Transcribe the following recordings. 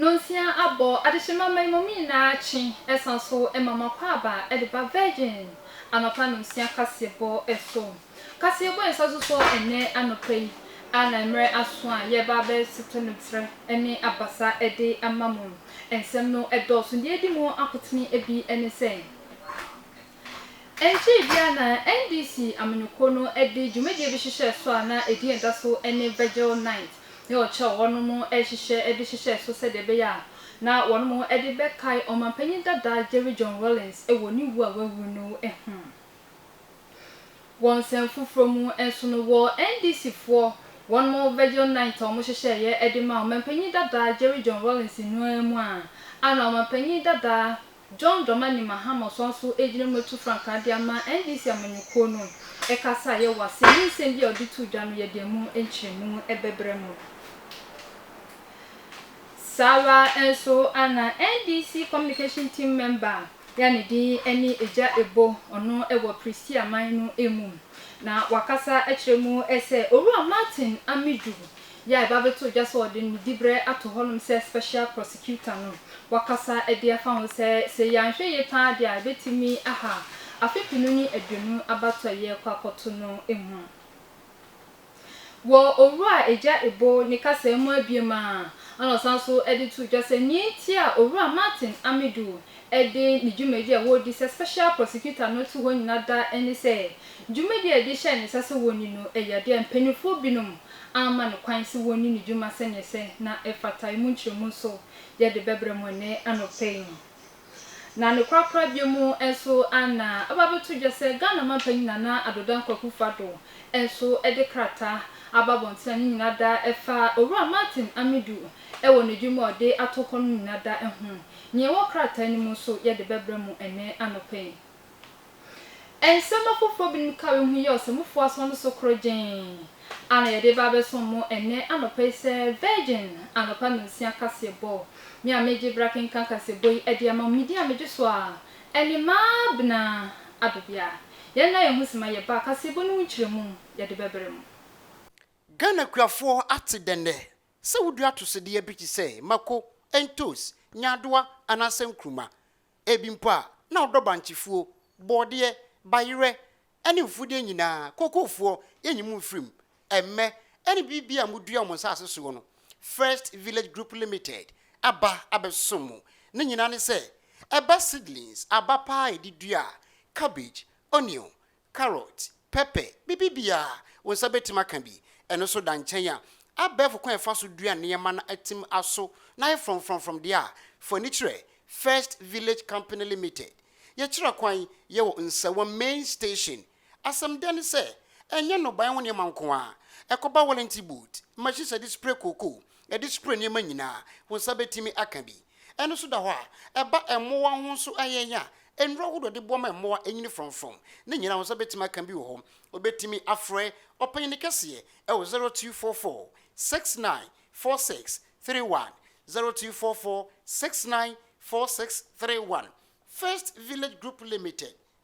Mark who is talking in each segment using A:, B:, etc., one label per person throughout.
A: Nonsia abɔ adehye ma mmamu me nyinaa kye ɛsan so ma m'akwaaba de ba Virgin anɔpa nonsia kaseɛbɔ so. Kaseɛbɔ a ɛsa so so ɛnnɛ anɔpa yi a na mmerɛ aso a yɛreba abɛsete no terɛ ne abasa de ama mo. Nsɛm no dɔɔso. Deɛ ɛdi mu akotene bi ne sɛ. Ɛnkyee biara na NDC amanyɔkuo no de dwumadie bi hyehyɛɛ so a na edin a ɛda so ne Virgil Night ne ɔkyɛ a wɔnom rehyehyɛ de hyehyɛɛ so sɛdeɛ ɛbɛyɛ a na wɔnom de bɛkae ɔmanpanyin dada Jerry John Rawlings wɔ ne wuo a wawu no ho. Wɔ nsɛm foforɔ mu nso no, wɔ NDC foɔ wɔnom Virgil Night a wɔhyehyɛeɛ de maa ɔmanpanyin dada Jerry John Rawlings no ara mu a na ɔmanpanyin dada John Dramani Mahama ɔsan nso gyina mu atu frankaa de ama NDC amanyɔkuo no. Ɛkasa a yɛ wɔ ase ne nsɛm bi a ɔde too dwa no yɛde ɛmu nkyerɛmu bɛbrɛ mo. Saa ara nso na NDC communication team mɛmba a yɛ ne din ne Agya Ebo ɔno wɔ Pristee aman no mu na wakasa akyerɛ mu sɛ Owura Martin Amidu Yai ba bɛtoo dwa sɛ ɔde ne dibrɛ ato hɔnom sɛ special prosecutor no. Wakasa de afa ho sɛ, sɛ yɛanhwɛ yie pa ara deɛ a, ɛbɛtumi aha afe penu ne aduonu abatoɔ a yɛrekɔ akɔto no mu. Wɔ Owura Agya Ebo ne kasaa mu abiem a, ɛna ɔsan nso de too dwa sɛ nea enti a Owura Martin Amidu de ne dwumadie a ɔredi sɛ special prosecutor no to hɔ nyina da ne sɛ, dwumadie a yɛde hyɛɛ ne nsa sɛ wɔnni no yɛ adeɛ a mpaninfoɔ binom amma no kwan sɛ wɔnni ne dwuma sɛnea ɛsɛ na ɛfata. Emu nkyerɛmu nso yɛ de bɛbrɛ mo ɛnnɛ anɔpa yi. Na ne korakorabea mu nso na aba abɛto dwa sɛ Ghana mampanyin Nana Addo Dankwa Akufo-Addo nso de krataa aba abɔnten a ne nyinaa da ɛfa Owura Martin Amidu wɔ n'adwuma a ɔde ato hɔ no nyinaa da ho. Nea ɛwɔ krataa no mu nso yɛ de bɛbrɛ mo ɛnnɛ anɔpa yi. Nsɛm afoforo binom ka ehu yi a ɔsomfo aso no so koro gyenn a na yɛde reba abɛsom mo ɛnnɛ anɔpa yi sɛ, Virgin anɔpa nnɔnsia kaseɛbɔ. Me a meregye bere akenkan kaseɛbɔ yi de ama mo, medin a megye so a ɛne Maabena Adobea. Yɛn nna yɛn ho sima yɛba a, kaseɛbɔ no ho nkyerɛmu yɛde bɛbrɛ mo. Ghana
B: kuafoɔ ate dɛn nnɛ? Sɛ wodua atosodeɛ bi te sɛ mako, ntos, nyaadoa anaasɛ nkruma ebi mpo a na ɔdɔ bankyefuo, bɔɔdeɛ, bayerɛ ne mfudeɛ nyinaa, kookoofoɔ, yɛnyi mo mfiri mu, ɛmmɛ, ɛne biribiara a modua wɔ mo nsaase soɔ no, First Village Group Limited aba abɛsom mo. Ne nyinaa ne sɛ, ɛba seedlings, aba paa a yɛde dua a, cabbage, onion, carrot, pɛpɛ, biribiara wo nsa bɛtumi aka bi. Ɛno nso da nkyɛn a, abɛɛfo kwan a yɛfa so dua nneɛma na atim aso na ayɛ frɔmfrɔmfrɔm deɛ a, fa ani kyerɛ First Village Company Limited. Yɛkyerɛ kwan, yɛwɔ Nsawa Main Station. Asɛm dɛ ne sɛ, ɛnyɛ nnɔbaeɛ ho nneɛma nko ara, ɛkɔba wellington boot, machines a yɛde spray cocoa, ɛde sukuu nneɛma nyinaa, wo nsa bɛtumi aka bi. Ɛno nso da hɔ a, ɛba mmoa ho nso ayɛn a, nnuro ahodoɔ de boɔ ma mmoa nyini frɔmfrɔm. Ne nyinaa wo nsa bɛtumi aka bi wɔ hɔ. Wobɛtumi afrɛ ɔpanyini kɛseɛ wɔ 0244 69 46 31, 0244 69 46 31. First Village Group Limited.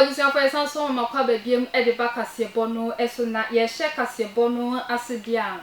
A: Abusuafo, yɛsan so ma kwaba biom de ba kaseɛbɔ no so. Na yɛhyɛ kaseɛbɔ no ase deɛ a,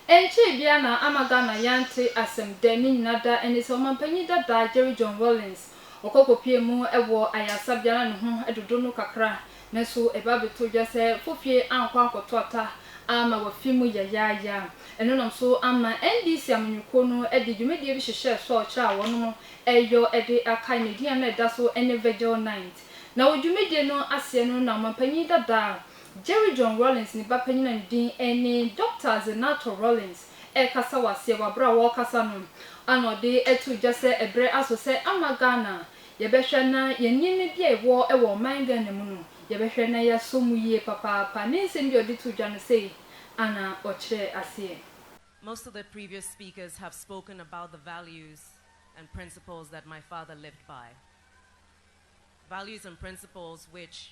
A: ɛnkyɛɛ biara na ama Ghana yɛante asɛm dɛ ne nyina da ɛne sɛ Ɔmampanyin dada Jerry John Rawlings Ɔkɔ kɔpue mu wɔ ayarsa bi a na no ho dodo no kakra, naaso ebaa bɛtoo dwa sɛ fofie annkɔ annkɔto ata aama wɔafi mu yayaaya. Eno nam so ama NDC amanyɔkuo no de dwumadie bi hyehyɛɛ sɔɔkye a wɔnom reyɔ de akae ne din a na ɛda so ne Vigil Night. Na wɔ dwumadie no aseɛ no na Ɔmanpanyin dada, Jerry John Rawlings ne ba panyin a ne din ne Dɔkta Zenator Rawlings rekasa wɔ aseɛ wɔ aberɛ a wɔrekasa no ana ɔde too dwa sɛ ɛberɛ aso sɛ ama Ghana yɛbɛhwɛ na yɛn nneɛma bi a ɛwɔ wɔ ɔman Ghana mu no yɛbɛhwɛ na yɛasɔ mu yie papaapa ne nsɛm bi a ɔde too dwa no sei ana ɔkyerɛɛ aseɛ. Most of the
C: previous speakers have spoken about the values and principles that my father lived by. Values and principles which.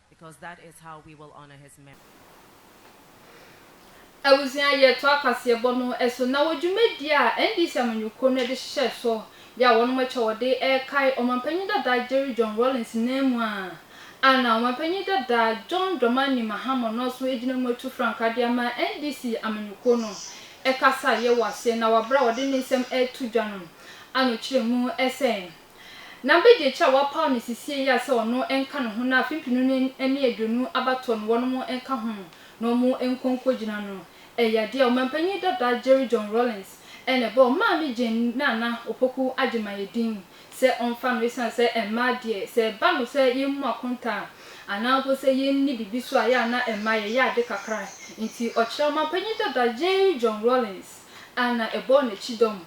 A: Abusua yɛ toa kaseɛbɔ no so na wɔ dwumadie a NDC amanyɔkuo no de hyɛ so yɛ a wɔnom kyɛ wɔde rekae Ɔmanpanyin dada Jerry John Rawlings nan mu a ana Ɔmanpanyin dada John Dramani Mahama no nso gyina mu atu frankaa de ama NDC amanyɔkuo no kasa yɛ wɔ aseɛ na wɔ aberɛ a ɔde ne nsɛm reto dwa no ano kyerɛ mu sɛ Na begye kyɛ a wɔapaw no sesie yi a sɛ ɔno nka ne ho na afe mpenu ne ne aduonu abatoɔ no wɔnom nka ho na ɔmo nkɔ nkogyina no. Ɛyɛ adeɛ a Ɔmanpanyin dada Jerry John Rawlings na ɛbɔɔ Maame Jane ne Nana Opoku Agyemang din sɛ ɔmfa no esiane sɛ mmaa deɛ sɛ ɛba no sɛ yɛmmu akonta a anaa mpo sɛ yɛnni biribi so a ɛyɛ a na mmaa yɛyɛ ade kakra nti ɔkyerɛ Ɔmanpanyin dada Jerry John Rawlings a na ɛbɔɔ no akyidɔm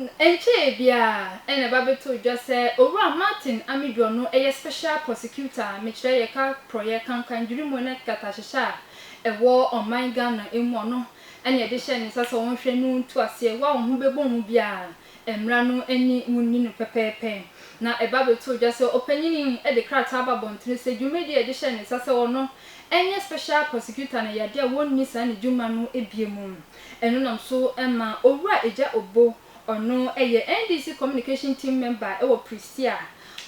A: Ɛnkyɛe biara na ɛba bɛtoo dwa sɛ Owura Martin Amidwor no yɛ Special Prosecutor a mekyerɛ yɛ ka porɔeɛ kankan dwiri mu ne nkatahyehyɛ a ɛwɔ ɔman Ghana mu ɔno na ɛde hyɛɛ ne nsa sɛ ɔnhwɛ no ntu aseɛ wo a wo ho bɛbɔ mu biara a mmara no ani wo nni no pɛpɛɛpɛ na ɛba bɛtoo dwa sɛ ɔpanyin yi de krataa aba abɔntene sɛ dwumadie a ɛde hyɛɛ ne nsa sɛ ɔno nyɛ Special Prosecutor no yɛ adeɛ a wɔnni saa ne dwuma no bie mu. Ɛno nam so ma Owura Agya Obo, ɔno yɛ NDC Communication Team Member wɔ Prestea,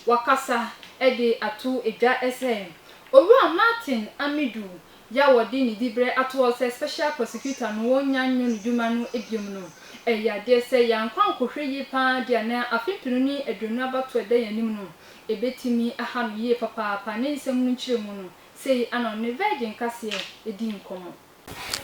A: wakasa de ato dwa sɛ Owura Martin Amidu yi a wɔde ne diberɛ ato hɔ sɛ Special Prosecutor no wɔnnya nnwo ne dwuma no biom no, ɛyɛ adeɛ sɛ yɛn ankorankɔhwɛ yie pa ara deɛ na afe mpenu ne aduonu abatoɔ a ɛda yɛn anim no, ɛbɛtumi aha no yie papaapa. Ne nsɛm no nkyerɛmu no, sei na ɔne Virgin kaseɛ dii nkɔmmɔ.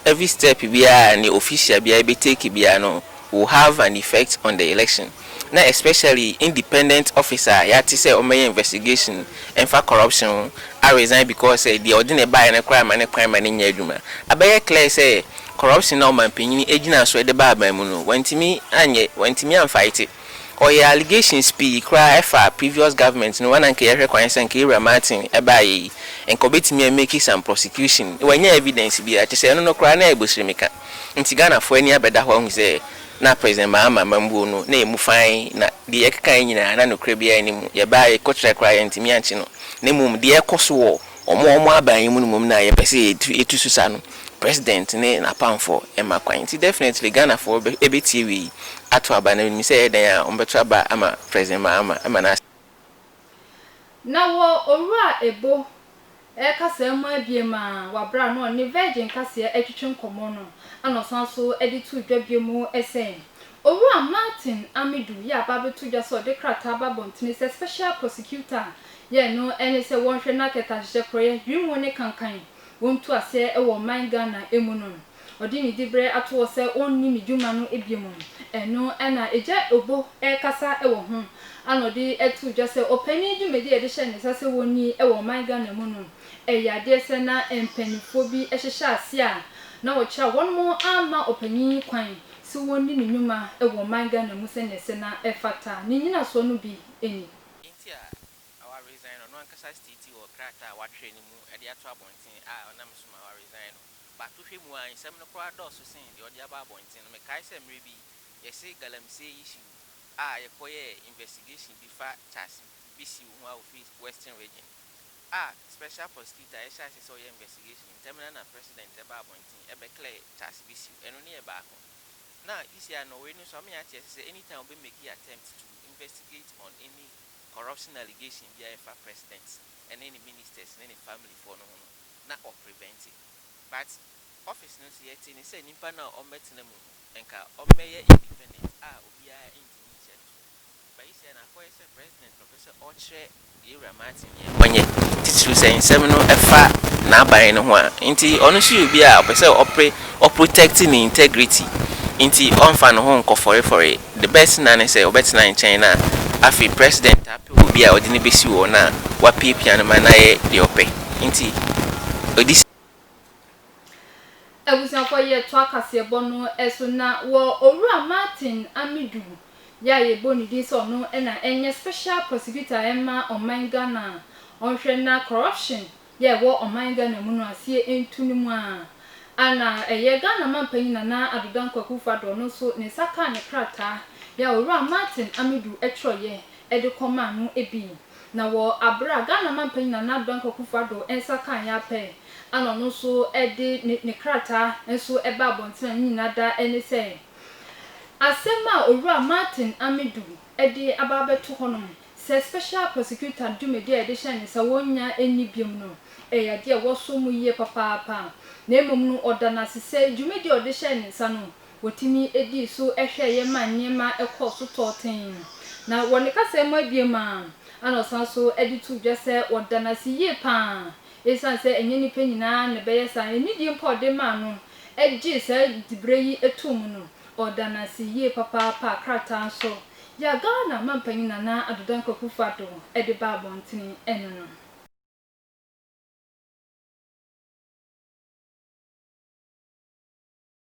A: Every
D: step biara a ne official biara bɛ take biara no will have an effect on the election na especially independent officer a yɛate sɛ ɔmmɛyɛ investigation mfa corruption ho a resign because sɛ deɛ ɔde no baeɛ no koraa mma no kwan ma no nyɛ adwuma. Abɛyɛ clear sɛ corruption a ɔmanpanyin gyinaa so de ba aban mu no wantumi anyɛ, wantumi amfight it. Ɔyɛ allegations pii koraa ɛfa previous government no ho a na nka yɛhwɛ kwan sɛ nka Ewura Martin ɛbaayɛ yi nka ɔbɛtumi a make some prosecution wanya evidence biara kyɛ sɛ ɛno no koraa na ɛyɛ bosirimika nti Ghanafoɔ ani abɛda hɔ ahu sɛ na President Mahama amambuo no na ɛmu fann na deɛ yɛkekaeɛ nyinaa na nokorɛ biara nni mu yɛbaayɛ kɔkyerɛ koraa yɛntumi ankye no na mmom deɛ ɛkɔ so wɔ Wɔn a wɔaba yɛn mu no mmom na yɛpɛ sɛ yɛtu so sa no, President ne n'apamfoɔ mma kwan. Nti definitely Ghanafoɔ bɛtie wei ato aba, na menim sɛ ɛyɛ dɛn a wɔbɛto aba ama President Mahama ma n'asɛm.
A: Na wɔ Owura Ebo kasaa mu abiem a wabra na ɔne Virgin Kaseɛ atwitwe nkɔmmɔ no na ɔsan so de too dwa bio mu sɛ, Owura Martin Amidu yɛ aba abɛto dwa sɛ ɔde krataa aba abɔntene sɛ Special Prosecutor Deɛ ɛno ne sɛ wɔnhwɛ na kɛtɛ ahyehyɛ porɔeɛ, dwiri ho ne kankan wɔn ntu aseɛ wɔ ɔman Ghana mu no. Ɔde ne diberɛ ato hɔ sɛ ɔnni ne dwuma no biom. Ɛno na Agya Obo rekasa wɔ ho a na ɔde ato dwa sɛ ɔpanin dwumadi a yɛde hyɛ ne nsa sɛ wɔnni wɔ ɔman Ghana mu no yɛ adeɛ sɛ na mpaninfoɔ bi hyehyɛ aseɛ a na wɔkyerɛ wɔn amma ɔpanin kwan sɛ ɔnni ne nwuma wɔ ɔman Ghana mu sɛdeɛ sɛ na ɛfata. Ne nyinasoɔ no bi ni. Enti a na
D: waresign no, ɔno ankasa stiiti wɔ krataa a watwerɛ no mu de ato abɔnten a ɔnam so ma waresign no. Bato hwɛ mu a, nsɛm no koraa dɔɔso sen deɛ ɔde aba abɔnten no. Mekae sɛ mmerɛ bi yɛse Galamsey issue a yɛkɔyɛɛ investigation bi fa Charles Bissue ho a ɔfiri Western Region a Special Prosecutor a yɛhyɛ aseɛ sɛ ɔyɛ investigation ntɛm no ara na President baa abɔnten bɛclare Charles Bissue. Ɛno ne yɛ baako. Na UCI Norway no nso ama yɛate aseɛ sɛ anytime wɔbɛ make attempt to investigate on any corruption allegation biara a ɛfa president ne ne ministers ne ne family foɔ no ho no na wɔ prevente but office no nso yɛtee ne sɛ nipa no a ɔmmɛtena mu no nka ɔmmɛyɛ independent a obiara ntumi nhyɛ no so but yi sɛ na akɔyɛ sɛ president na ɔpɛ sɛ ɔkyerɛ Yewura Martin yɛ ɔnyɛ, titiriw sɛ nsɛm no fa n'aban no ho a. Enti ɔno nso yɛ obi a ɔpɛ sɛ ɔpre, ɔ protect ne integrity. Enti ɔmfa ne ho nkɔ fɔrefɔre. The best na ne sɛ ɔbɛtena nkyɛn na afei President taa pɛ obi a ɔde no besi hɔ na wapiapia no ma no ayɛ deɛ ɔpɛ. Enti ɔdi.
A: Abusuafo yɛ toa kaseɛbɔ no so na wɔ Owura Martin Amidu yɛ a yɛbɔ ne din sɛ ɔno na ɛnyɛ special prosecutor ɛma ɔman Ghana a ɔnhwɛ na corruption yɛ a ɛwɔ ɔman Ghana mu no aseɛ ntu no mu a na ɛyɛ Ghana manpanyin Nana Addo Dankwa Akufo Addo ɔno nso ne nsa kaa ne krataa yɛ a Owura Martin Amidu twerɛeɛ de kɔmaa no bi. Na wɔ aber a Ghana mampanyin Nana Addo Dankwa Akufo-Addo nsa kãa yɛn apɛe ana ɔno so dze ne ne krataa so baa abɔntsen a ne nyina da nye sɛ, asɛm a Owura Martin Amidu dze aba abɛto hɔ no, sɛ Special Prosecutor dwumadzi a yɛdze hyɛɛ ne nsa wonnya nnyi biom no, yɛ adze a wɔsɔ mu yie papaapa, na mbom no ɔda no ase sɛ dwumadzi a ɔdze hyɛɛ ne nsa no, Wotumi dii so hwɛeɛ maa nneɛma kɔɔ so tɔɔ tee. Na wɔ ne kasaɛ mu abien mu ara, ɛna ɔsan so de too dwa sɛ ɔda no ase yie pa ara ɛsiane sɛ ɛnyɛ nnipa nyinaa na ɛbɛyɛ saa. Anidie mpo a ɔde maa no gyee saa diberɛ yi too mu no, ɔda no ase yie papaapa. Krataa nso yi a Ghana Manpanin Nana Addo Dankwa Akufo-Addo de baa abɔntene no no.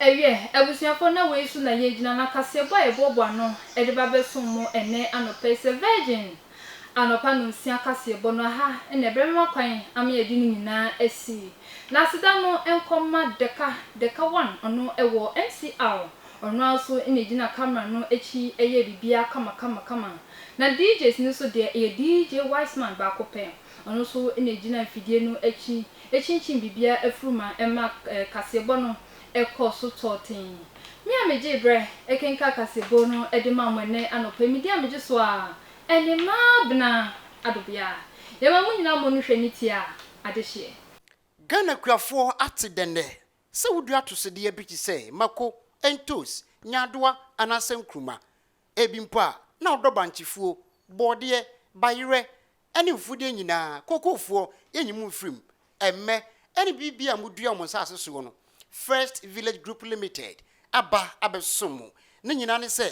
A: Ɛwiɛ, abusuafoɔ, na wei so na yɛgyina na kaseɛbɔ a yɛboaboa ano de ba bɛsom mo ɛnnɛ anɔpa yi sɛ Virgin anɔpa nonsia kaseɛbɔ no aha na ɛbɛma kwan ama yɛde no nyinaa asi. Na aseda no nkɔ mma Deka, Deka one, ɔno wɔ MCR, ɔno ara nso na ɛgyina camera no akyi yɛ biribiara kama kama kama. Na DJs no nso deɛ, ɛyɛ DJ Wiseman baako pɛ, ɔno nso na ɛgyina mfidie no akyi Ekyinkyin biribiara afuru ma ɛma kaseɛbɔ no kɔɔ so tɔɔ tee. Me a megyee berɛ kenkaa kaseɛbɔ no de maa mo ɛnnɛ anɔpa yi, medi a megye so a, ɛnne ma abena adobea. Yɛma mo nyinaa mmɔ no hwɛ ne tia adehyeɛ. Ghana
B: kuafoɔ ate dɛn nnɛ? Sɛ wodua atosodeɛ bi te sɛ mako, ntos, nyaadoa anaasɛ nkruma ebi mpo a na ɔdɔ bankyefuo, bɔɔdeɛ, bayerɛ ne mfudeɛ nyinaa, kookoofoɔ, yɛnyi mo mfiri mu, ɛmmɛ, ɛne biribiara a modua wɔ mo nsaase soɔ no, First Village Group Limited aba abɛsom mo. Ne nyinaa ne sɛ,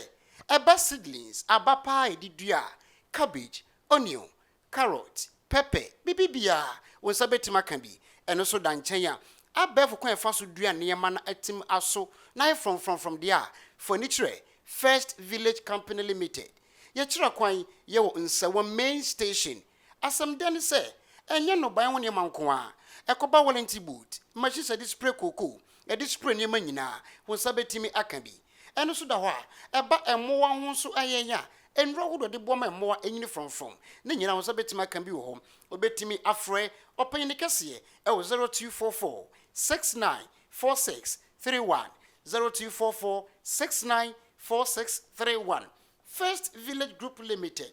B: ɛba seedlings, aba paa a yɛde dua a, cabbage, onion, carrot, pɛpɛ, biribiara wo nsa bɛtumi aka bi, ɛno nso da nkyɛn a, abɛɛfo kwan a yɛfa so dua nneɛma na atim aso na ayɛ frɔmfrɔmfrɔm deɛ a, fa ani kyerɛ First Village Company Limited. Yɛkyerɛ kwan, yɛwɔ Nsawa Main Station. Asɛm dɛ ne sɛ, ɛnyɛ nnɔbaeɛ ho nneɛma nko ara, ɛkɔba warranty boot, machines a yɛde spray cocoa, yɛde spray nneɛma nyinaa, wo nsa bɛtumi aka bi. Ɛno nso da hɔ a, ɛba mmoa ho nso a yɛnya nnuro ahodoɔ de boa ma mmoa nyini frɔmfrɔm. Ne nyinaa ho nsa bɛtumi aka bi wɔ hɔ. Wobɛtumi afrɛ ɔpanyin kɛseɛ wɔ 0244 6946 31, 0244 6946 31. First Village Group Limited,